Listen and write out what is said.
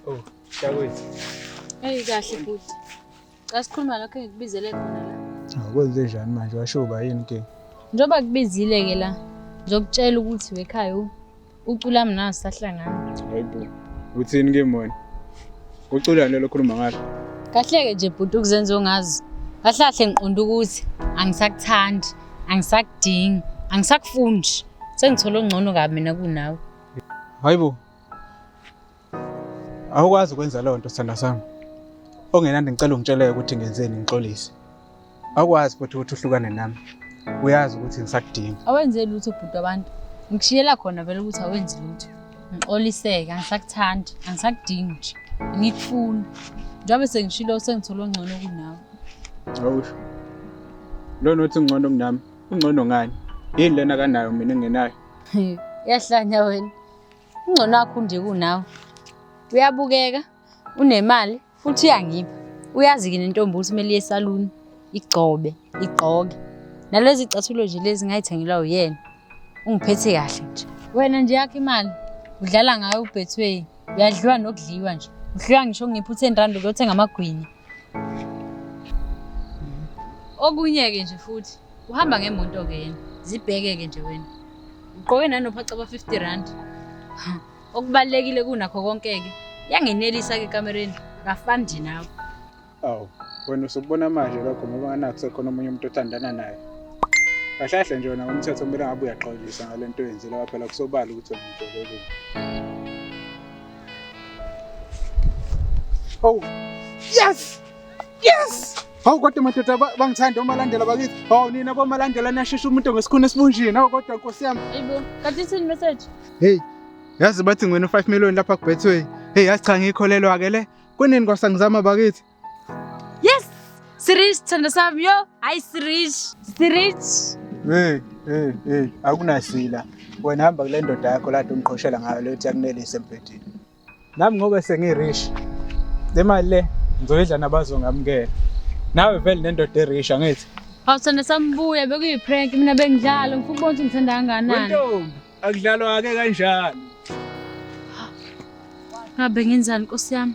Oh, Dakwethu. Hey kahle bhuti. Xa sikhuluma lokho ngikubizele khona la. Cha kwenze njani manje washo uba yini ke? Njengoba kubizile ke la ngizokutshela ukuthi wekhaya u Ucula mina sahlangana. Hayibo. Uthini ke mona? Ucula lelo khuluma ngalo. Kahleke nje bhuti ukuzenza ongazi. Kahlahle ngiqonda ukuthi angisakuthandi, angisakudingi, angisakufuni nje. Sengithola ongcono kabi mina kunawe. Hayibo. Awukwazi ukwenza leyo nto sithanda sami. Ongenani ngicela ungitshele ukuthi ngenzeni ngixolise. Awukwazi futhi ukuthi uhlukane nami. Uyazi ukuthi ngisakudinga. Awenze lutho bhuti abantu. Ngikushiyela khona vele ukuthi awenzi lutho. Ngixoliseke, angisakuthandi, angisakudingi nje. Ngikufuna. Njengoba sengishilo sengithola ongcono kunawe. Awusho. Lona othi ungcono kunami. Ungcono ngani? Yini lena kanayo mina engenayo? Yahlanya wena. Ungcono wakho nje kunawe. Uyabukeka, unemali futhi uyangipha. Uyazi ke nentombi ukuthi kumele iye esaluni, igcobe, igqoke. Nalezi zicathulo nje lezi ngayithengelwa uyena. Ungiphethe kahle nje. Wena nje yakho imali udlala ngayo uBetway. Uyadliwa nokudliwa nje. Udliwa ngisho ngipha u-10 rand ukuyothenga amagwinya. Okunye-ke nje futhi uhamba ngemoto-ke yena zibheke-ke nje wena ugqoke nanophaca ba-fifty rand okubalulekile kunakho konke-ke yangenelisa-ke ekamereni akafani nje nawe awu wena usukubona manje lokho ngoba nganaku sekhona omunye umuntu othandana naye kahle kahle nje wena ngomthetho kumele ngabe uyaxolisa ngale nto oyenzile kwaphela kusobala ukuthi wena umjolekile Oh. Yes! Yes! Hawu kodwa madoda ba- bangithanda omalandela bakithi. Hawu nina bomalandela niyashesha umuntu ngesikhuni esibunjini. Hawu kodwa Nkosi yami. Ayibo, kanti ithini message? Hey. Yazi bathi ngwena 5 million lapha kuBetway. Hey yazi cha ngikholelwa ke le. Kunini kwasangizama bakithi? Yes! Sirish sithando sami yo. Hayi Sirish. Sirish. Hey, hey, hey, akunasila. Wena hamba kule ndoda yakho lade ungiqhoshela ngayo leyo ukuthi yakunelise embhedeni. Nami ngoba sengirish. Le mali le ngizoyidla nabazongamukela. Nawe vele nendoda erish angithi. Hawu sithando sami buya bekuyiprank mina bengidlalo ngifuna ukubona ukuthi ngithanda kangakanani. Wentombi akudlalwa-ke kanjalo. Ngabe ngenzani Nkosi yami?